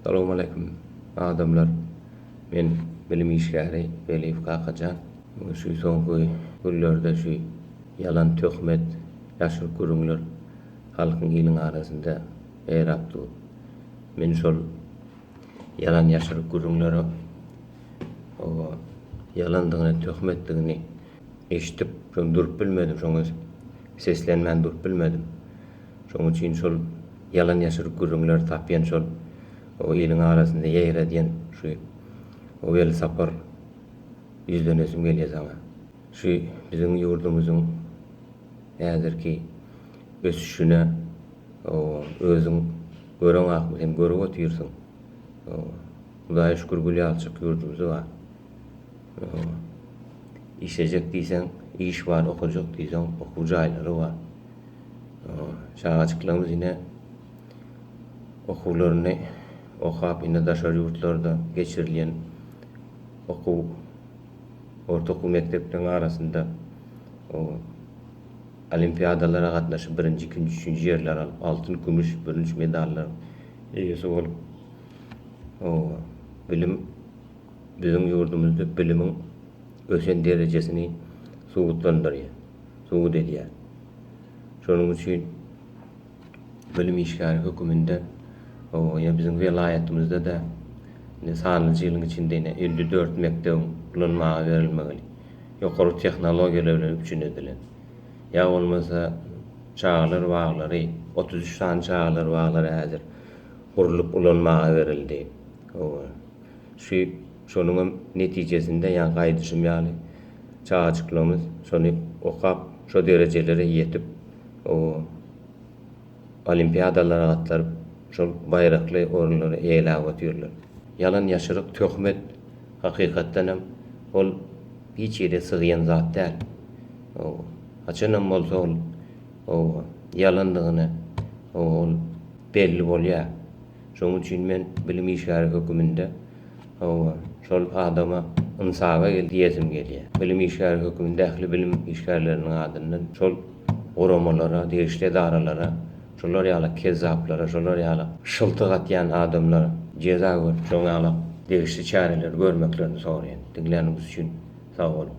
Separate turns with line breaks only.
Salowmaleýkim adamlar men bilim işgäri Weliýew Kakajan şu soňky günlerde şu ýalan töhmet ýaşyryp gürüňler halkyň iliň arasynda ýaýrap dur men şol ýalan ýaşyryp gürüňlere oba ýalandygyny töhmetdigini Eşidip şony durup bilmedim şoňa seslenmän durup bilmedim. Şoň üçin şol ýalan ýaşyryk gürrüňleri tapýan şol o iliň arasynda ýegiredýän şu o Welsapar ýüzlenesim gelýä saňa. Şu biziň ýurdumyzyň häzirki ösüşine o özüň göreň akmy sen görüp otyrsyň. O Hudaýa şükür gülýalçyk ýurdumyz bar. Işlejek diýseň iş bar, okajak diýseň okuw jaýlary bar. Çagajyklarymyz ine okuwlaryny okap, indi daşary ýurtlarda geçirilýän okuw, orta okuw mekdepleriň arasynda olimpiadalara gatnaşyp, birinji, ikinji, üçünji ýerleri alyp, altyn, kümüş, bürünç medallaryň eýesi bolup, bilim, biziň ýurdumyzda bilimiň ösen derejesini subutlandyrýar, subut edýär. Şonuň üçin bilim işgäri höküminde ýa biziň welaýatymyzda-da indi sanlyja ýylyň içinde ine elli dört mekdebiň ulanmaga berilmegini, ýokary tehnologiýalar bilen üpjün edilen, ýa bolmasa çagalar baglary, otuz üç sany çagalar baglary häzir gurlup ulanmaga berildi. Süýt, şonuň hem netijesinde ýa gaýdyşym ýaly çagajyklarymyz şony okap şo derejelere ýetip o olimpiadalara gatlaryp şol baýrakly orunlary eýeläp otyrlar. Ýalan ýaşyryk töhmet hakykatdan hem ol hiç ýere sygýan zat däl. Haçan hem bolsa ol ýalandygyny ol belli bolýar. Şonuň üçin men bilim işgäri höküminde hawa, şol adama ynsaga gel diýesim gelýär. Bilim işgäri höküminde ähli bilim işgärleriniň adyndan şol guramalara, degişli edaralara, şular ýaly kezzaplara, şular ýaly şyltyk atýan adamlara jeza görüp, şoň ýaly degişli çäreleri görmeklerini soraýan. Diňläniňiz üçin sag boluň.